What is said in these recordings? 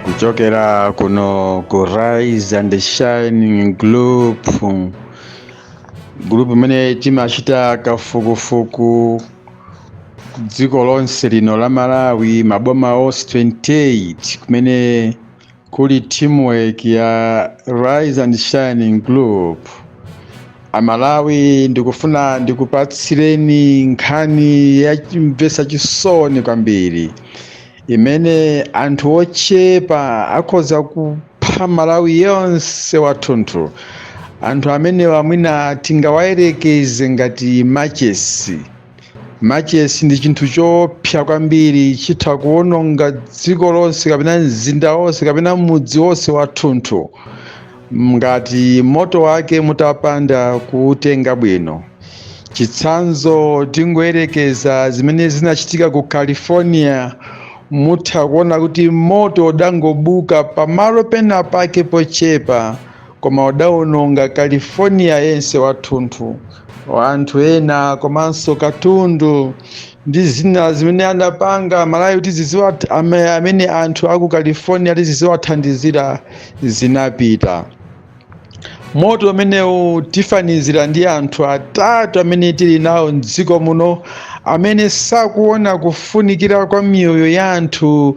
kuchokera kuno ku rise and shining group group imene timachita kafukufuku dziko lonse lino la malawi maboma onse 28 kumene Kuli teamwork ya Rise and Shining Group. Amalawi ndikufuna ndikupatsireni nkhani yachimvetsa chisoni kwambiri imene anthu ochepa akhoza kupha Malawi yonse wathunthu. Anthu amenewa mwina tingawayerekeze ngati machesi. machesi ndi chinthu choopsa kwambiri chitha kuwononga dziko lonse kapena mzinda wonse kapena mudzi wonse wathunthu ngati moto wake mutapanda kuutenga bwino chitsanzo tingoyerekeza zimene zinachitika ku california mutha kuona kuti moto udangobuka pamalo pena pake pochepa Koma udaononga California yense wathunthu, anthu ena komanso katundu ndi zina zimene anapanga Malawi kuti ziziwa- ame- amene anthu aku California kuti ziziwathandizira zinapita. Moto umenewu tifanizira ndi anthu atatu amene tili nawo m'dziko muno amene sakuona kufunikira kwa miyoyo ya anthu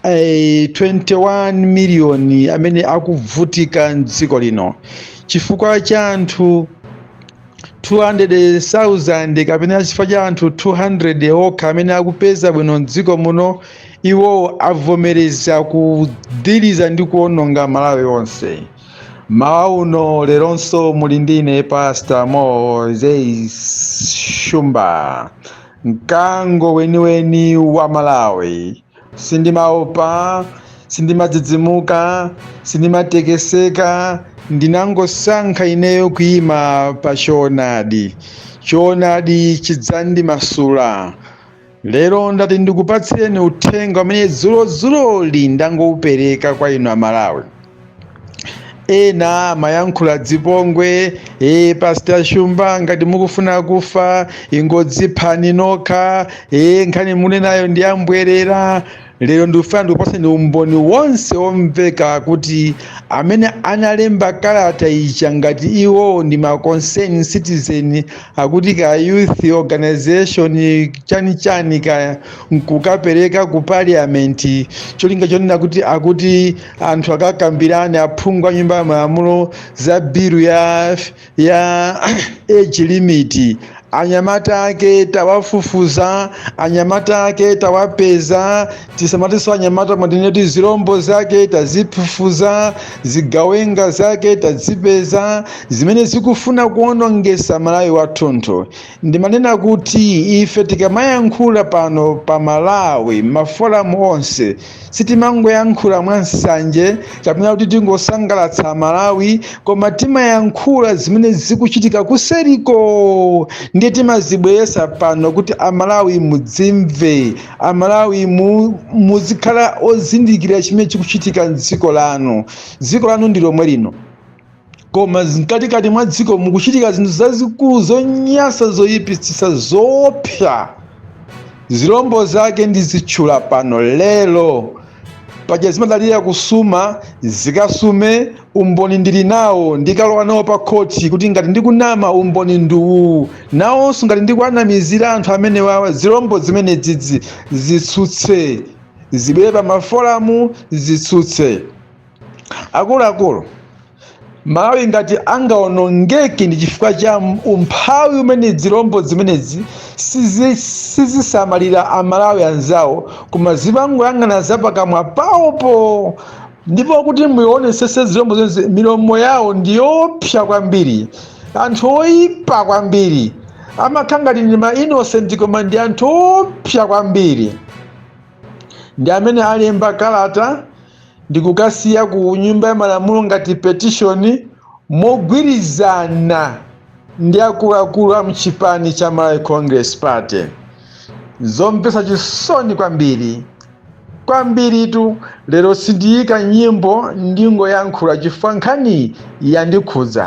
eh, 21 miliyoni amene akuvutika mdziko lino chifukwa cha anthu 200,000 kapena chifukwa cha anthu 200 okha amene akupeza bwino mdziko muno iwowo avomereza kudiriza ndi kuononga malawi onse mmawa uno leronso muli ndi ine pastor moses shumba mkango weniweni wa malawi sindimaopa sindimadzidzimuka sindimatekeseka ndinangosankha ineyo kuyima pa choonadi choonadi chidzandimasula lero ndati ndikupatsireni uthenga umene dzulozuloli ndangowupereka kwa inu amalawi ena amayankhula dzipongwe e, pastor shumba ngati mukufuna kufa ingodziphani nokha e, nkhani munanenayo ndi yambwerera lero ndikufuna ndikupaseni umboni wonse womveka kuti amene analemba kalata ija ngati iwowo ndi ma concern citizen akuti ka youth organization chani chani kaya nkukapereka ku parliament cholinga chonena kuti akuti anthu akakambirane aphungu a nyumba ya malamulo za bilu ya, ya age limit anyamata ake tawafufuza anyamata ake tawapeza tisamatinso anyamata mwatineti zilombo zake tazifufuza zigawenga zake tazipeza zimene zikufuna kuonongesa malawi wathunthu ndimanena kuti ife tikamayankhula pano pa malawi maforamu onse sitimangoyankhula mwa nsanje kapena kuti tingosangalatsa amalawi koma timayankhula zimene zikuchitika kuseriko ndiye timazibweresa pano kuti amalawi mudzimve amalawi mu, muzikhala ozindikira chimene chikuchitika mdziko lanu dziko lanu ndi lomwe lino koma mkatikati mwa dziko mukuchitika zinthu zazikulu zonyansa zoyipitsitsa zoopsa zilombo zake ndizitchula pano lero paja zimadalira kusuma zikasume umboni ndili nawo ndikalowa nawo pa khoti kuti ngati ndikunama umboni ndi uwu nawonso ngati ndikuwanamizira anthu amene wawa zilombo zimene dzidzi zitsutse zibwere pa maforamu zitsutse akuluakulu malawi ngati angaonongeke ndi chifukwa cha umphawi umene zilombo zimenezi sizi- sizisamalira amalawi anzawo koma zimangoyang'ana zapakamwa pawopo ndipo kuti muionesese zilombo zonse milomo yawo ndi yoopsa kwambiri anthu oyipa kwambiri amakhala ngati ndi ma innocent koma ndi anthu oopsa kwambiri ndi amene alemba kalata ndi kukasiya ku nyumba ya malamulo ngati petishoni mogwirizana ndi akuluakulu a mchipani cha Malawi Congress Party. Zomvetsa chisoni kwambiri kwambiritu lero sindiyika nyimbo ndingoyankhula chifukwa nkhani yandikhudza.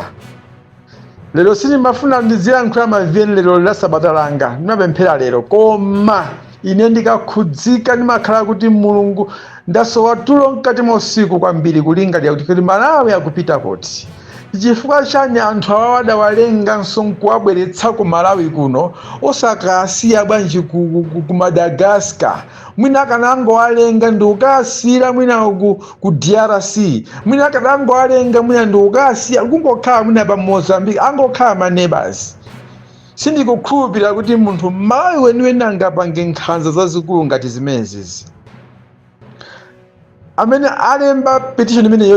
lero sindimafuna ndiziyankhula ma VN lero ndi la sabata langa ndimapemphera lero koma ine ndikakhudzika ndimakhala kuti mulungu ndasowa tulo mkati mwa usiku kwambiri kulingalira kuti kodi malawi akupita kuti chifukwa chani anthu awawa adawalenganso nkuwabweretsa ku malawi kuno osakawasiya bwanji ku, ku, ku, ku madagascar mwina akanangowalenga ndi kukasiira mwina ku, ku drc mwina akanangowalenga mwina ndi kukasiya kungokhala mwina pa mozambique angokhala manebasi sindikukhulupirira kuti munthu mmalawi weniweni angapange nkhanza zazikulu ngati zimenezizi amene alemba petition imene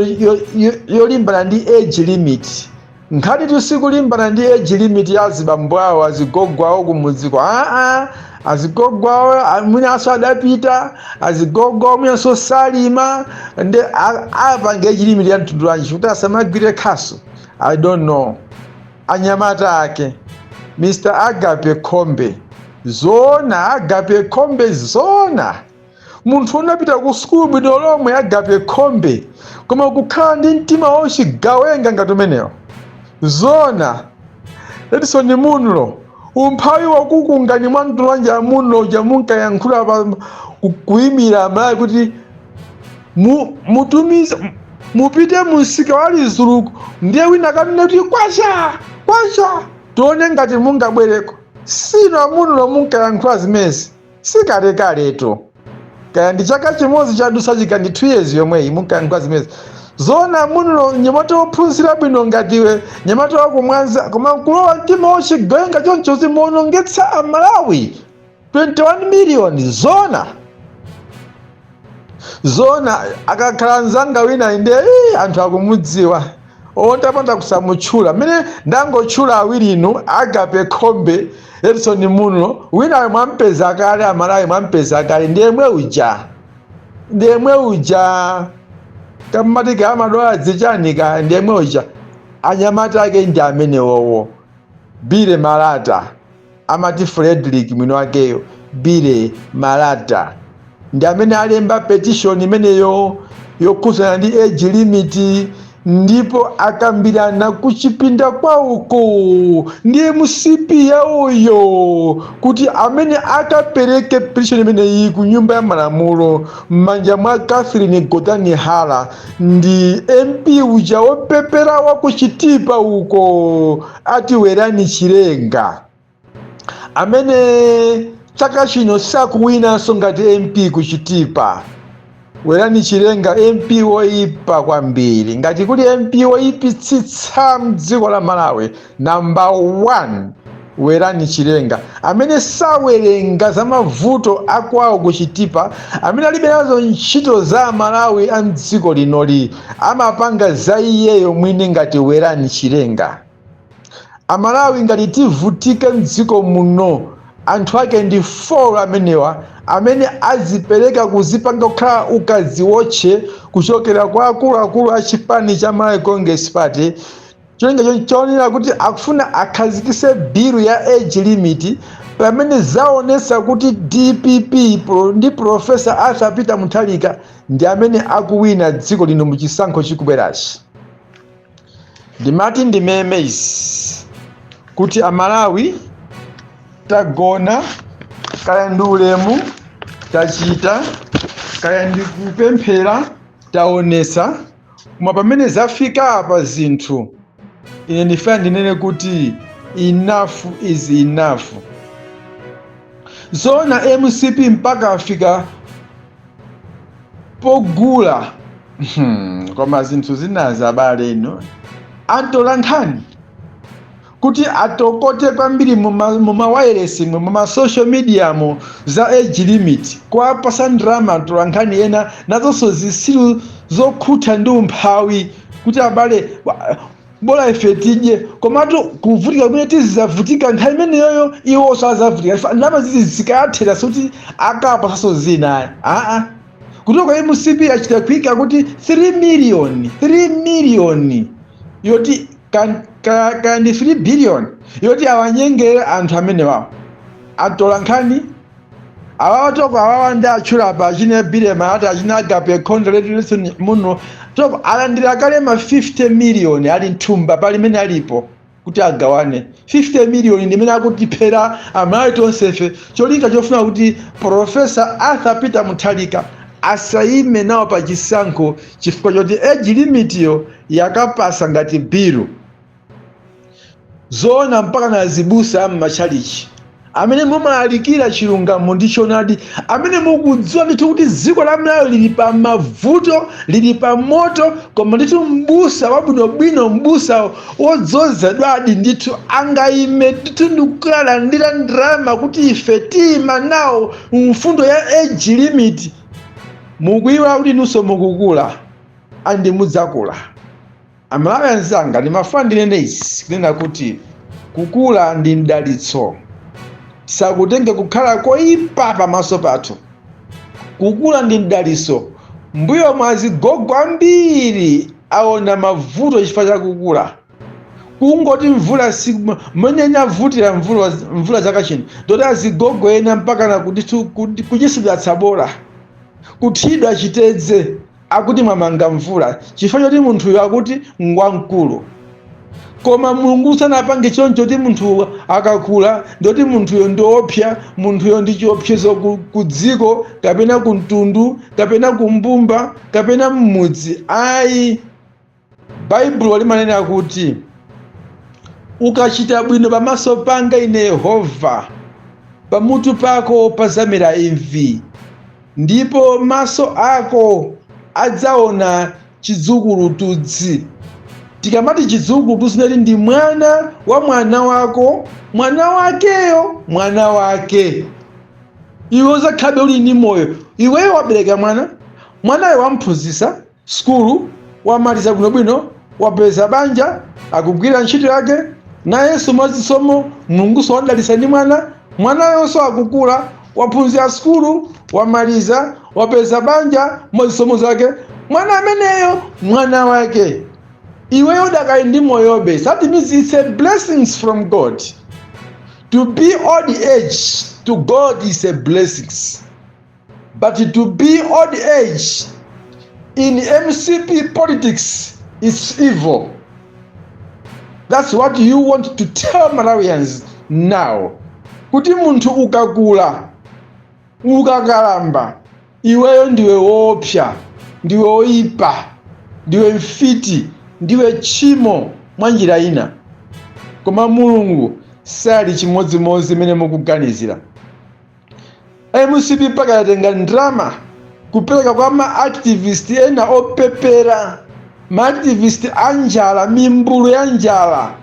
yolimbana ndi age limit nkhanitu sikulimbana ndi age limit ya azibambo awo azigogo awo kumudziko aa azigogo awo a- mwinanso adapita azigogo awo mwinanso salima nde a- apange age limit ya mtundu wanji kuti asamagwire khasu i don't know anyamata ake mr agape khombe zona agape khombe zona munthu unapita ku sukulu bwino lomwe agape khombe koma kukhala ndi mtima wauchigawenga ngati umenewo zona edison muno umphawi wakukungani mwa mtundu wanji a muno uja munkayankhula pa ku- kuimira amalawi kuti mu- mutumize mupite mumsika wa lizuluku ndiye wina kanene kuti kwacha kwacha tione ngati mungabwereko si inu a muno munkayankhula zimezi sikalekaletu kaya ndi chaka chimodzi chadutsa kaya ndi 2 years yomweyi munkayankhula zimezi zona muno mnyamata wophunzira bwino ngati iwe mnyamata wakumwanza koma nkulowa mtima wochigawenga choncho kuti muonongetsa amalawi 21 miliyoni zona zona akakhala mzanga wina inde ii, anthu akumudziwa olo ntapanda kusamutchula mmene ndangotchula awiri inu agape khombe edison muno winayo mwampeza kale amalawi mwampeza kale ndiyemwe uja ndiyemwe uja kammatikama dwala dzichonika ndiyemwe uja anyamata ake ndi amenewowo bile malata Amati Frederick mwiniwakeyo, Billy Malata, ndi amene alemba petition imeneyo yokhudzana ndi age limit ndipo akambirana kuchipinda kwawoko ndi mcp yawoyo kuti amene akapereke petition imeneyi ku nyumba ya malamulo m'manja mwa catherine gotani hara ndi mp uja wopepera wa ku chitipa uko ati werani chilenga amene chaka chino sakuwinanso ngati mp kuchitipa werani chilenga mp woyipa kwambiri ngati kuli mp woyipitsitsa mdziko la malawi namba 1 werani chilenga amene sawerenga za mavuto akwawo kuchitipa amene alibe nazo ntchito za amalawi a mdziko linoli amapanga za iyeyo mwini ngati werani chilenga amalawi ngati tivutike mdziko muno anthu ake ndi 4 amenewa amene azipereka kuzipanga kukhala akadziwotche kuchokera kwa akuluakulu a chipani cha malawi congress party cholinga chonchi choonera kuti akufuna akhazikise bilu ya age limit pamene zaonesa kuti dpp pro- ndi profesa arthur peter mutharika ndi amene akuwina dziko lino mu chisankho chikubwerachi ndimati ndimeme izi kuti amalawi tagona kaya ndi ulemu tachita kaya ndi kupemphera taonesa koma pamene zafika apa zinthu ine ndifuna ndinene kuti enough is enough zoona mcp mpaka afika pogula hmm, koma zinthu zinazi abale inu antolankhani kuti atokote kwambiri mumawayilesimu muma mumasocial mediamu za age limit kuwapasa ndalama atolankhani ena nazonso zisiru zokhutha ndi umphawi kuti abale bola ife tidye komatu kuvutika kumene tizizavutika nthawi imeneyoyo iwonso azavutika ndalama zizo zikathera sikuti akapasaso zina aa kutoka mcp achita kuika kuti 3 miliyoni 3 miliyoni yoti Ka- ka- kaya ndi 3 billion yoti awanyengere anthu amenewawo atola nkhani awawa toko awawa ndi ndatchula apa achine Billy Malata achina agape Khombe muno toko alandira kale ma 50 million ali mthumba palimene alipo kuti agawane 50 million ndi imene akutiphera amalawi tonsefe cholinga chofuna kuti profesa arthur peter muthalika asayime nawo pa chisankho chifukwa choti age limitiyo yakapasa ngati bilu zoona mpaka na azibusa am'matchalichi amene mumalalikira chilungamo ndi choonadi amene mukudziwa ndithu kuti dziko la malawi lili pa mavuto lili pa moto koma ndithu mbusa wabwinobwino mbusa wodzozedwadi ndithu angayime ndithu ndikukalandira ndalama kuti ife tiyima nawo mfundo ya age limit mukuyiwala kuti inunso mukukula and mudzakula amalawi anzanga ndimafuna ndinene izi kunena kuti kukula ndi mdalitso sakutenge kukhala koyipa pamaso pathu kukula ndi mdalitso mbuyomu azigogo ambiri aona mavuto chifukwa cha kukula kungoti mvula si mmene inavutira mvula mvula chaka chino ndoti azigogo ena mpaka na kuti tu- kuti- kuchisidwa tsabola kuthidwa chitedze Akuti mwamanga mvula chifukwa choti munthuyo akuti ngwamkulu. Koma Mulungu sanapange choncho kuti munthu akakula ndoti munthuyo ndioopsa, munthuyo ndi chiopsezo ku, ku dziko kapena ku mtundu kapena ku mbumba kapena m'mudzi. Ayi. baibulo limanena kuti ukachita bwino pamaso panga ine yehova pamutu pako pazamera imvi ndipo maso ako adzaona chidzukulutudzi tikamati chidzukulutudzi nati ndi mwana wa mwana wako mwana wakeyo mwana wake iwe uzakhabe uli ndi moyo iweyo wabereka mwana mwanayo wamphunzisa sukulu, wamaliza bwinobwino, wapeza banja, akugwira ntchito yake, nayenso mwazisomo Mulungunso wadalitsa ndi mwana, mwanayonso akukula, waphunzira sukulu, wamaliza, wapeza banja mwazisomo zake, mwana ameneyo mwana wake iweyo udakali ndi moyobe that means it's a blessings from god to be old age to god is a blessings But to be old age in MCP politics is evil. That's what you want to tell Malawians now. Kuti munthu ukakula ukakalamba iweyo ndiwe woopsa ndiwe woipa ndiwe mfiti ndiwe tchimo mwa njira ina koma mulungu sali chimodzimodzi mmene mukuganizira mcp mpaka yatenga ndrama kupereka kwa maactivist ena opepera maactivist a njala mimbulu ya njala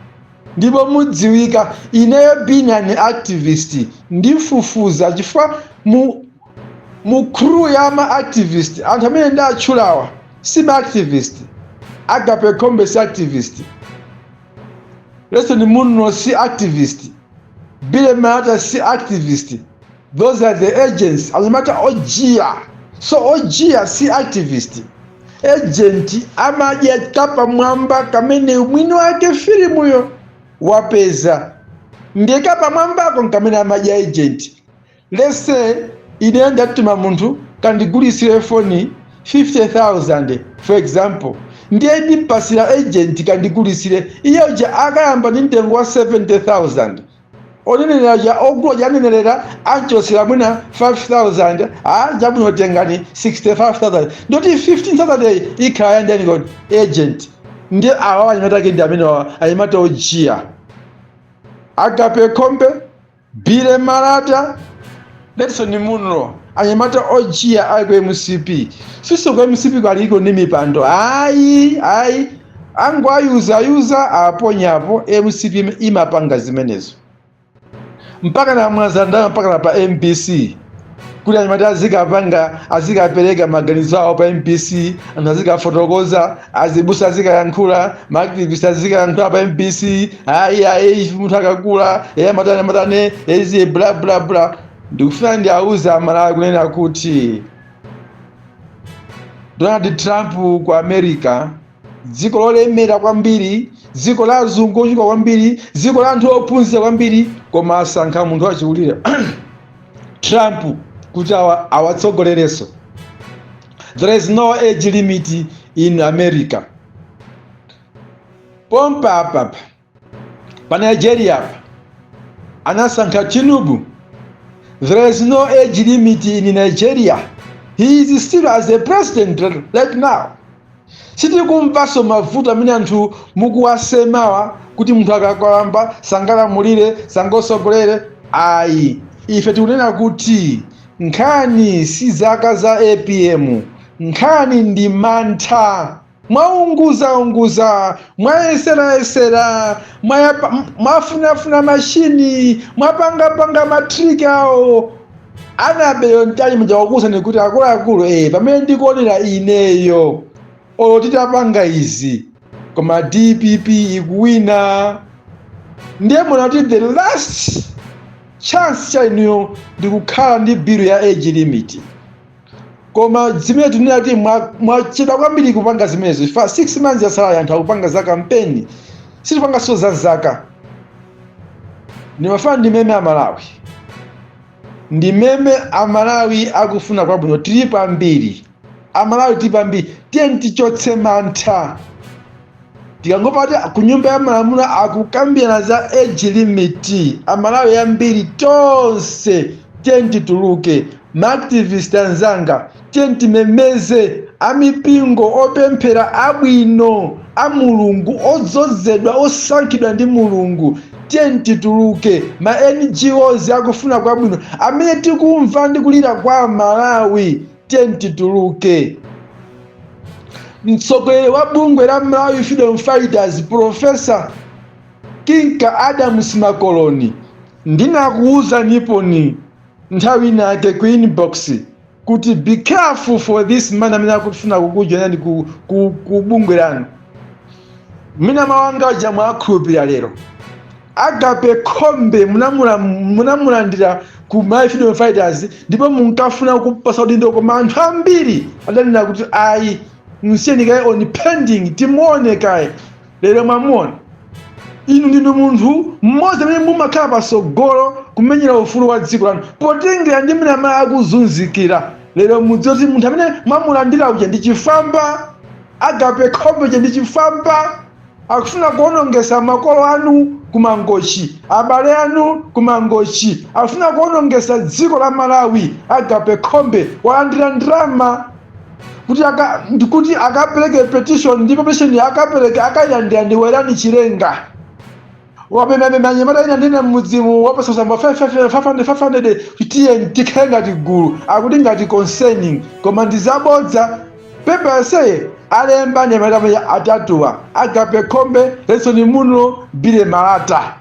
ndipo mudziwika ineyo being an activist ndifufuza chifukwa mu mu crew ya maactivist anthu amene ndatchulawa si maactivist agape khombe si activist redson munlo si activist Billy Malata si activist. Those are the agents. Anyamata ojiya. So ojiya si activist. Agent amadya kapamwamba kamene mwini wake filimuyo wapeza. Ndiye kapamwambako nkamene amadya agent. Let's say ine ndatuma munthu kandigulitsire foni 50,000 for example, ndiye ndimpasira agent kandigulitsire, iye uja akayamba ndi mtengo wa 70,000 onenelera uja ogula uja anenelera anchotsera mwina 5,000 ah, chabwino tengani 65,000 ndoti 15,000 yi ikhala yandiyani kodi agent ndiye awawa anyamata ake ndi amene awa anyamata ojiya agape khombe Billy Malata, Redson Munlo, anyamata ojiya ali ku mcp siso ku mcp kwaliko ndi mipando ayi ayi angowayuzayuza aponyapo mcp im- imapanga zimenezo mpakana mwazandama mpakana pa mbc kuti anyamata azikapanga azikapereka maganizo awo pa mbc anthu azikafotokoza azibusa azikayankhula maaktivist azikayankhula pa mbc ayi ayi munthu akakula eyi amatane amatane eziye bla bla bla ndikufuna ndi auze amalawi kunena kuti donald trump ku america dziko lolemera kwambiri dziko la azungu ochuka kwambiri dziko la anthu ophunzira kwambiri koma asankha munthu wachikulire trump kuti awa- awatsogolerenso there is no age limit in america pompa apapa pa nigeria apa anasankha tinubu there is no age limit in nigeria he is still as a president right now sitikumvanso mavuto amene anthu mukuwasemawa kuti munthu akakwamba sangalamulire sangatsogolere ayi ife tikunena kuti nkhani si zaka za apm nkhani ndi mantha mwaunguzaunguza mwayeserayesera mwayapa- m- mwafunafuna mashini mwapangapanga matriki awo anaberewo mtali muja wakuuzani kuti akuluakulu eh, pamene ndikuonera ineyo olo titapanga izi koma dpp ikuwina ndiye mona kuti the last chance cha inuyo ndikukhala ndi bill ya age limit koma zimene tinena kuti mwa- mwachedwa kwambiri kupanga zimenezo chifukwa 6 months yasalayi anthu akupanga za kampeni sitipanganso za zaka ndimafana ndi meme amalawi ndi meme amalawi akufuna kwabwino tilipo ambiri amalawi tilipo ambiri tiyeni tichotse mantha tikangomva kuti ku nyumba ya malamulo akukambirana za age limit amalawi ambiri tonse tiyeni tituluke maactivist anzanga tiyeni timemeze amipingo opemphera abwino a mulungu odzozedwa osankhidwa ndi mulungu tiyeni tituluke ma ngos akufuna kwabwino amene tikumva ndi kulira kwa amalawi tiyeni tituluke mtsogoleri wa bungwe la malawi freedom fighters profesa kinka adams makoloni ndinakuwuzaniponi nthawi inayake ku inbox kuti be careful for this man amene akufuna kukujoinani ku, ku, ku bungwe lanu mina mawanga aja mwakhulupirira lero Agape Khombe munamulandira ku Malawi Freedom Fighters ndipo munkafuna kumpasa udindo koma anthu ambiri adanena kuti ayi msiyeni kaye on pending timuone kaye lero mwamuona inu ndinu munthu mmodzi amene mumakhala patsogolo kumenyera ufulu wa dziko lanu potengera ndi mmene amalawi akuzunzikira lero mudziwe kuti munthu amene mwamulandira uja ndi chifwamba agape khombe uja ndi chifwamba akufuna kuonongesa makolo anu ku mangochi abale anu ku mangochi akufuna kuonongesa dziko la malawi agape khombe walandira ndalama kuti akapereke petition ndipo petition akapereke akayilandira ndi werani chilenga wamemamema anyamata ena ndi ena mmudzimu wapasa ma 500 titiye tikhale ngati gulu akuti ngati concerning koma ndi zabodza pepa yonseyi alemba anyamata amene atatuwa agape khombe redson munlo billy malata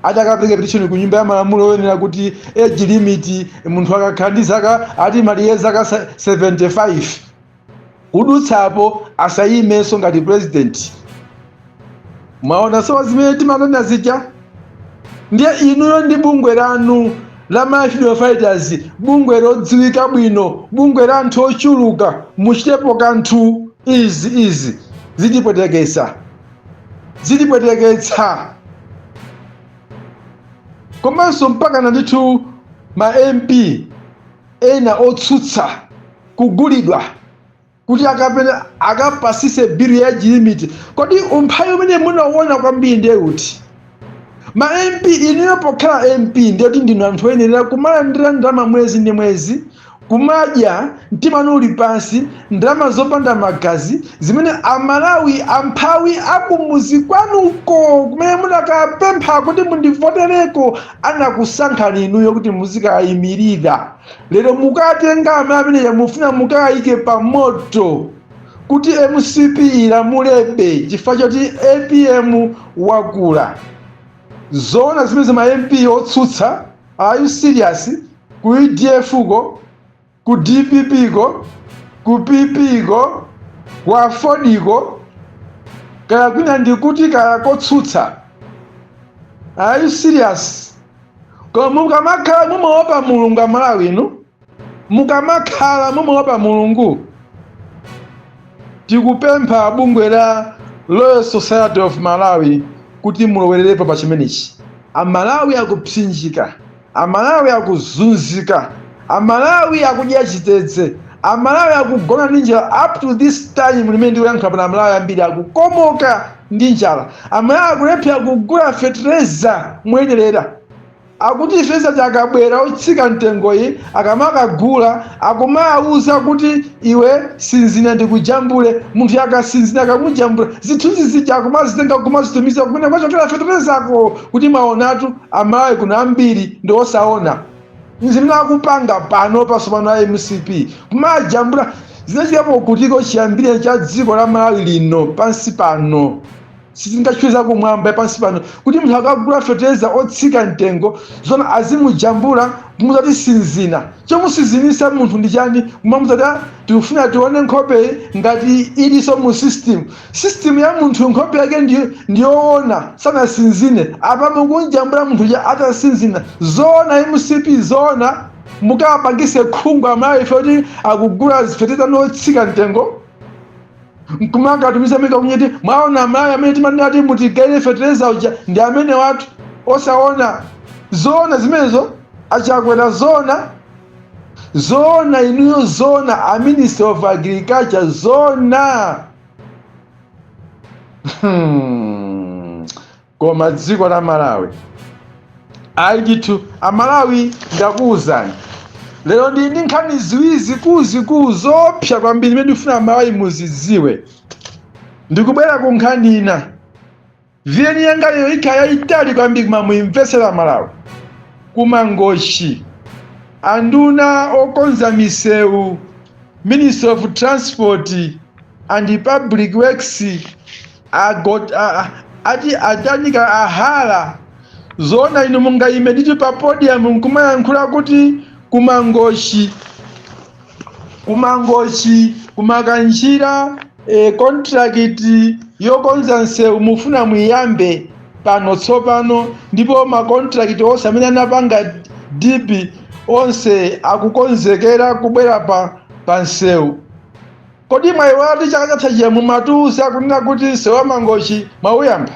ati akapereka petition ku nyumba ya malamulo oyenera kuti age limit munthu akakhala ndi zaka ati malire zaka 75 kudutsapo asayimenso ngati president mwaona sopano zimene timanena zija ndiye inuyo ndi bungwe lanu la Malawi Freedom Fighters bungwe lodziwika bwino bungwe la anthu ochuluka muchitepo kanthu izi izi zitipwetekesa zitipweteketsa komanso mpakana ndithu ma mp ena otsutsa kugulidwa kuti akapena akapasise bill ya age limit kodi umphawi umene munauona kwambiri ndiye uti ma mp inuyo pokhala mp ndiye kuti ndinu anthu oyenera kumalandira ndalama mwezi ndi mwezi kumadya mtima wanu uli pansi ndalama zopanda magazi zimene amalawi amphawi akumuzi kwanuko kumene munakawapempha kuti mundivotereko anakusankhani inuyo kuti muzikayimirira lero mukatenga amalawi amenewo mufuna mukayike pa moto kuti mcp ilamulebe chifukwa choti apm wakula zoona zimenezi ma mp otsutsa are you serious ku udf ko ku dpp ko ku pp ko ku aford ko kaya kwina ndikuti kaya kotsutsa are you serious koma mukamakhala mumaopa mulungu amalawi inu mukamakhala mumaopa mulungu tikupempha bungwe la royal society of malawi kuti mulowererepo pa chimenechi amalawi akupsinjika Amalawi akuzunzika, Amalawi akudya chitedze, Amalawi akugona ndi njala up to this time imene ndikuyankhula pano Amalawi ambiri akukomoka ndi njala. Amalawi akulephera kugula fetereza moyenerera. Akuti fetereza akabwera otsika mtengoyi akamakagula akumawuza kuti iwe sinzina ndikujambule, munthuyo akasinzina akamujambula, zithunzi zija akumazitenga kumazitumiza kumene kwachokera feterezako kuti mwawonatu, amalawi kuno ambiri ndi osaona zimene akupanga pano pasopano a mcp kumajambula zinachitikapo kuti ko chiyambire cha dziko la malawi lino pansi pano sindikutchula kumwamba pansi pano kuti munthu akagula fetereza otsika mtengo zona azimujambula kumuuza ati sinzina chomusinzinitsa munthu ndi chani kumamuuza ati tikufuna tione nkhope ngati iliso mu system System ya munthu nkhope yake ndiyoona sanasinzine apa mukunjambula munthu uja atasinzina zoona mcp zoona mukapangise khungu amalawi ife kuti akugula fetereza wotsika mtengo nkumakatumiza maiko akunja ati mwaona amalawi amene timanena kuti mutigayire fetereza uja ndi amenewatu osaona zoona zimenezo a Chakwera zoona zoona inuyo zoona a minister of agriculture zoona hmm. koma dziko la malawi ayi ndithu amalawi ndakuwuzani lero ndili ndi nkhani ziwiri zikuluzikulu zopsa kwambiri zimene ndikufuna amalawi muzidziwe ndikubwera ku nkhani ina Viyeni yanga lero ikhala yayitali kwambiri koma muyimvetsera Malawi kumangochi anduna okonza misewu Minister of Transport and Public Works agot, a, a, ati atanika ahala zoona inu mungayime ndithu pa podium nkumayankhula kuti kumangochi kumangochi kumakanjira e, kontrakiti yokonza msewu mufuna muyiyambe pano tsopano ndipo makontrakiti onse amene anapanga dipi onse akukonzekera kubwera pa, pa msewu Kodi mwaiwala kuti chaka chatha chija mumatiuza akunena kuti msewu wa Mangochi mwauyamba?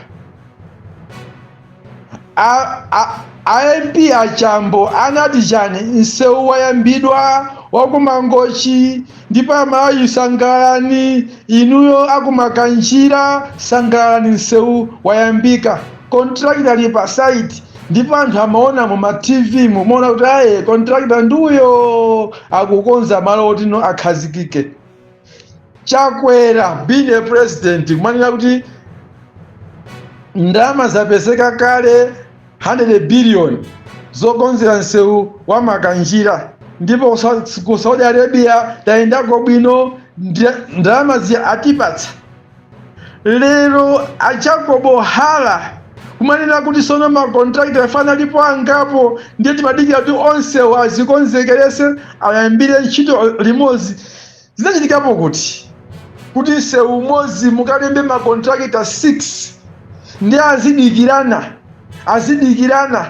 A- a- a MP achambo anati chani? Msewu wayambidwa wa ku Mangochi ndipo Amalawi sangalalani, inuyo akumakanjira sangalalani, msewu wayambika. Kontrakita ali pa site ndipo anthu amaona mu ma TV mumaona kuti ayi kontrakita ndi uyo akukonza malo oti no akhazikike chakwera being a president kumanena kuti ndalama zapezeka kale 100 billion zokonzera msewu wa makanjira ndipo kusa- ku saudi arabia tayendako bwino ndi- ndalama zija atipatsa lero a jacob hara kumanena kuti sono makontrakita afe analipo angapo ndiye timadikira kuti onsewo azikonzekerese ayambire ntchito limodzi zinachitikapo kuti kuti msewu umodzi mukalembe makontrakita 6 ndiye azidikirana azidikirana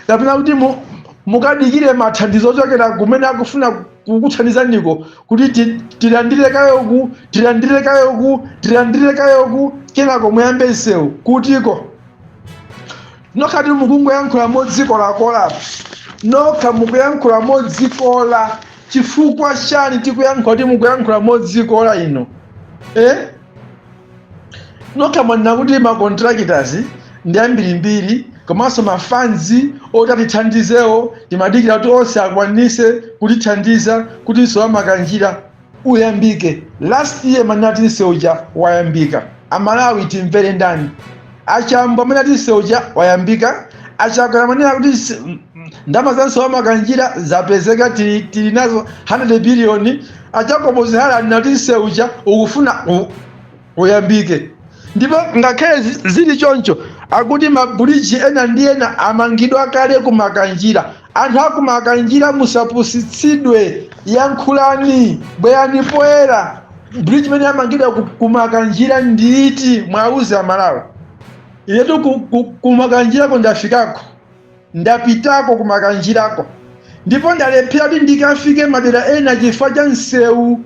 kapena kuti mu- mukadikire mathandizo ochokera kumene akufuna kukuthandizaniko kuti ti- tilandire kayoku tilandire kayoku tilandire kayoku kenako muyambe msewu kutiko nokhatu mukungoyankhula modzikolakola nokha mukuyankhula modzikola chifukwa chani tikuyankhula kuti mukuyankhula modzikola inu eh? nokha mwanena kuti ma contractors ndi ambirimbiri komanso ma funds oti atithandizewo timadikira kuti onse akwanise kutithandiza kuti msewu wa makanjira uyambike last year munati msewu uja wayambika amalawi timvere ndani A Chambo amene ati msewu uja wayambika, a Chakwera amanena kuti mse- m- m- ndalama za msewu wa Makanjira zapezeka tili tili nazo 100 biliyoni. A Jacob Hara anena kuti msewu uja ukufuna u- uyambike. Ndipo ngakhale zi- zili choncho akuti mabuliji ena ndi ena amangidwa kale ku Makanjira Anthu aku Makanjira musapusitsidwe yankhulani bwerani poyera bridge imene yamangidwa ku, ku Makanjira ndiiti mwauze amalawi inetu ku, ku, ku Makanjirako ndafikako ndapitako ku Makanjirako ndipo ndalephera kuti ndikafike madera ena chifukwa cha msewu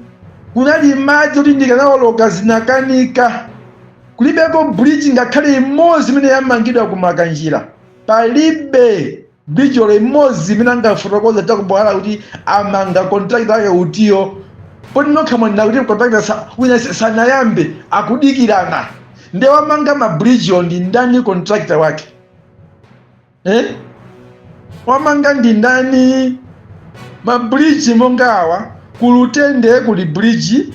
kunali madzi kuti ndikanawoloka zinakanika kulibeko bridge ngakhale imodzi imene yamangidwa ku Makanjira palibe bridge olo imodzi imene angafotokoze a jacob hara kuti amanga contractor wake utiyo poti nokha mwanena kuti contractor sa- wina sa- sanayambe akudikirana nde wamanga mabridgewo ndi ndani contractor wake eh? wamanga ndi ndani mabridge monga awa kulutende kuli bridge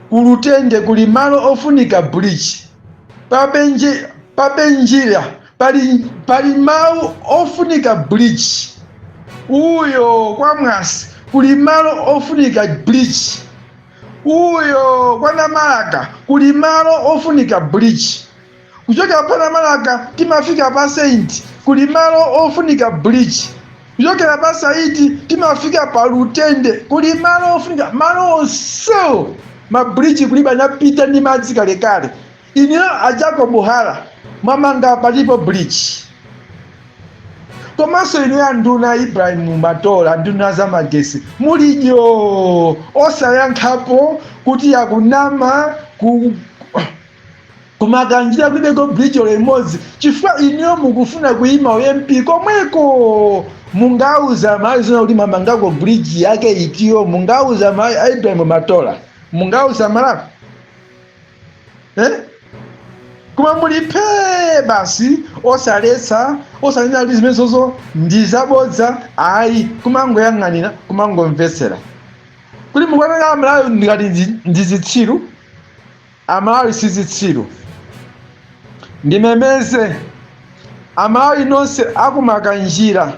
Ku Lutende kuli malo ofunika bleach. Pa Benji, pa Benjira pali, pali mawu ofunika bleach. Uyo kwa Mwasi kuli malo ofunika bleach. Uyo kwa Namalaka kuli malo ofunika bleach. Kuchokera pa Namalaka timafika pa Saint kuli malo ofunika bridge. Kuchokera pa Saiti timafika pa Lutende kuli malo ofunika malo onse ma bridge kulibe anapita ndi madzi kalekale. Inuyo a Jacob Hara mwamanga patipo bridge? Komanso inuyo anduna Ibrahim Matola nduna za magesi muli dyoo osayankhapo kuti akunama ku Ku Makanjira kulibeko bridge olo imodzi chifukwa inuyo mukufuna kuyima u MP komweko! Mungauze amalawi zoona kuti mwamangako bridge yake itiyo? Mungauze amalawi a Ibrahim Matola? Mungauze amalawi? Eh? Koma muli phee basi osaletsa osanena kuti zimenezozo ndizabodza ayi kumangoyang'anira kumangomvetsera kuti mukuwaona amalawi ngati ndi zitsiru? Amalawi si zitsiru. Ndimemeze Amalawi nonse a ku Makanjira,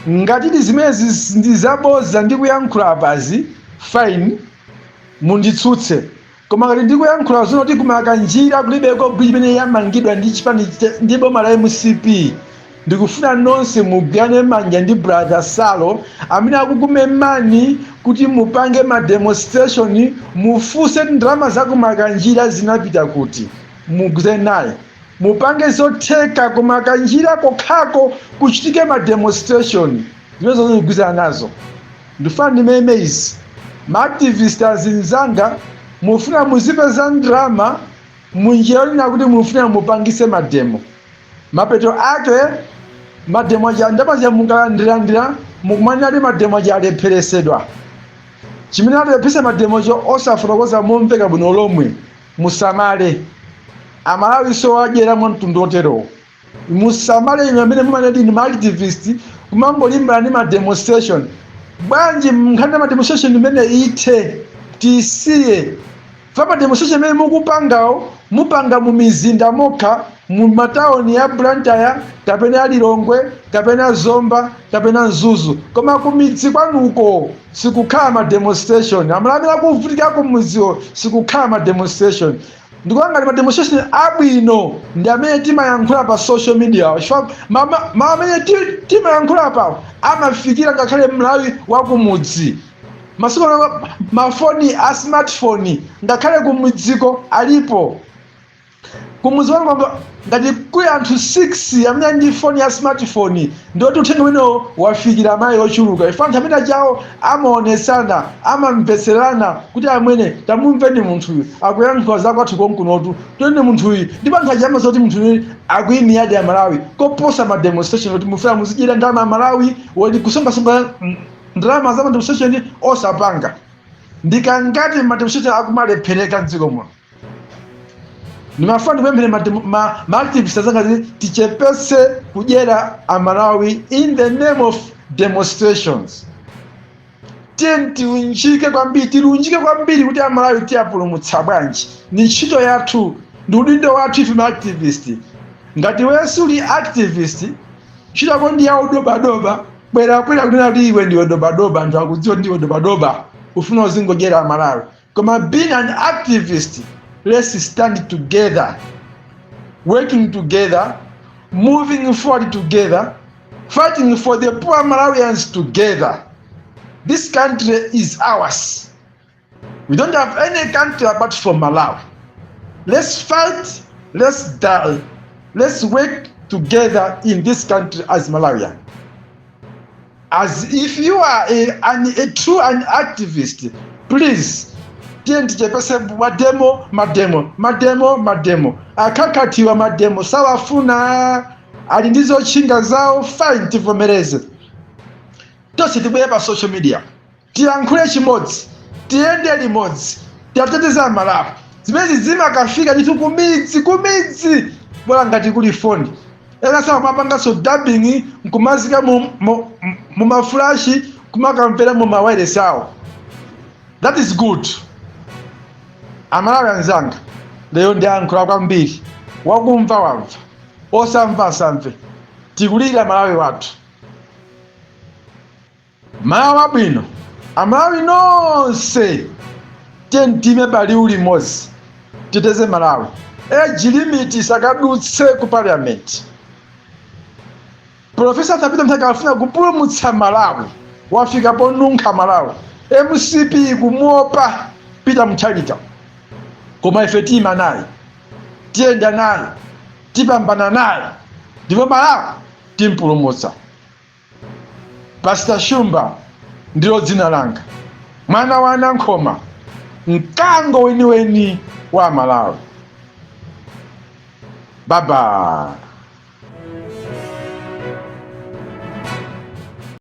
ngatidi zimenezi ndi zabodza ndikuyankhula apazi, fine, munditsutse. Koma ngati ndikuyankhula zoona kuti ku Makanjira kulibeko bridge imene yamangidwa ndi chipani ndi boma la mcp, Ndikufuna nonse mugwirane manja ndi brother Salo amene akukumemani kuti mupange ma demonstration mufunse ndalama za ku Makanjira zinapita kuti mugwirizane naye mupange zotheka ku Makanjira kokhako kuchitike ma demonstration zimenezo ndikugwirizana nazo ndifuna ndimeme izi ma activist azinzanga mufuna muzipeza ndalama munjira yonena kuti mufuna mupangise mademo mapeto ake mademo aja ndalama zija mukalandiralandira mukumanena kuti mademo aja alepheresedwa chimene chalepheretsa mademocho osafotokoza momveka bwino lomwe musamale amalawinso adyera mwa mtundu wotero musamale inu amene mumanena ndinu maactivist kumangolimbana ndi mademonstration bwanji nkhani ya mademonstration imeneyi ithe tisiye Chifukwa ma demonstration amene mukupangawo mukupanga mu mizinda mokha mu matauni ya Blantyre kapena ya Lilongwe kapena Zomba kapena Mzuzu koma kumidzi kwanuko sikukhala ma demonstration amalawi amene akuvutika kumudziwo sikukhala ma demonstration ndikuona ngati ma demonstration abwino ndi amene timayankhula pa social media awa chifukwa ma- ma- mawu amene ti- timayankhula apawo amafikira ngakhale mlawi wakumudzi masiku ano mafoni a smartphone ngakhale kumidziko alipo kumudzi wanu kwamba ngati kuli anthu 6 amene ali ndi foni ya smartphone ndioti uthenga umenewo wafikira mayi ochuluka ife anthu amene ajawo amaonetsana amamvetserana kuti amwene tamumveni munthuyu akuyankhula za kwathu konkunotu tiyeni munthuyu ndipo anthu aja amva zoti munthuyu akuyimiradi amalawi koposa ma demonstration kuti mufuna muzidyera ndalama amalawi woti kusonkhasonkha ndalama za mademonstration osapanga ndikangati mademonstration akumalephereka mdziko muno ndimafuna ndipemphere mademo- ma- maactivist azanga kuti tichepese kudyera amalawi in the name of demonstrations tiyeni tiunjike kwambiri tilunjike kwambiri kuti amalawi tiwapulumutsa bwanji ni ntchito yathu ndi udindo wathu ife maactivist ngati weyo uli activist ntchito yako ndi yaudobadoba bwera poyera kunena kuti iwe ndiwe dobadoba anthu akudziwa zoti ndiwe dobadoba ufuna uzingodyera amalawi koma being an activist let's stand together working together moving forward together fighting for the poor malawians together this country is ours We don't have any country apart from Malawi. Let's fight, let's die, let's work together in this country as Malawian. As if you are a, an, a true an activist, please tiyeni tichepese mademo mademo mademo mademo akakatiwa mademo sawafuna ali ndi zotchinga zawo fine tivomereze tonse tibwere pa social media tilankhule chimodzi tiyende limodzi tiateteze amalawi zimenezi zimakafika ndithu kumidzi kumidzi bola ngati kuli foni ena amapanganso dubbing nkumazika mu- mu- mu mafulashi kumakamvera mu mawayilesi awo that is good amalawi anzanga lero ndayankhula kwambiri wakumva wamva osamva asamve tikulirira malawi wathu malawi wabwino amalawi nonse tiyeni tiime paliwu limodzi titeteze malawi age limit isakadutse ku parliament profesa atha pita muthalika akufuna kupulumutsa malawi wafika ponunkha malawi mcp ikumuopa pita muthalika koma ife tiima naye tiyenda naye tipambana naye ndipo malawi timpulumutsa Pastor Shumba ndilo dzina langa, mwana wa Nankhoma, mkango weniweni wa aMalawi. Baba.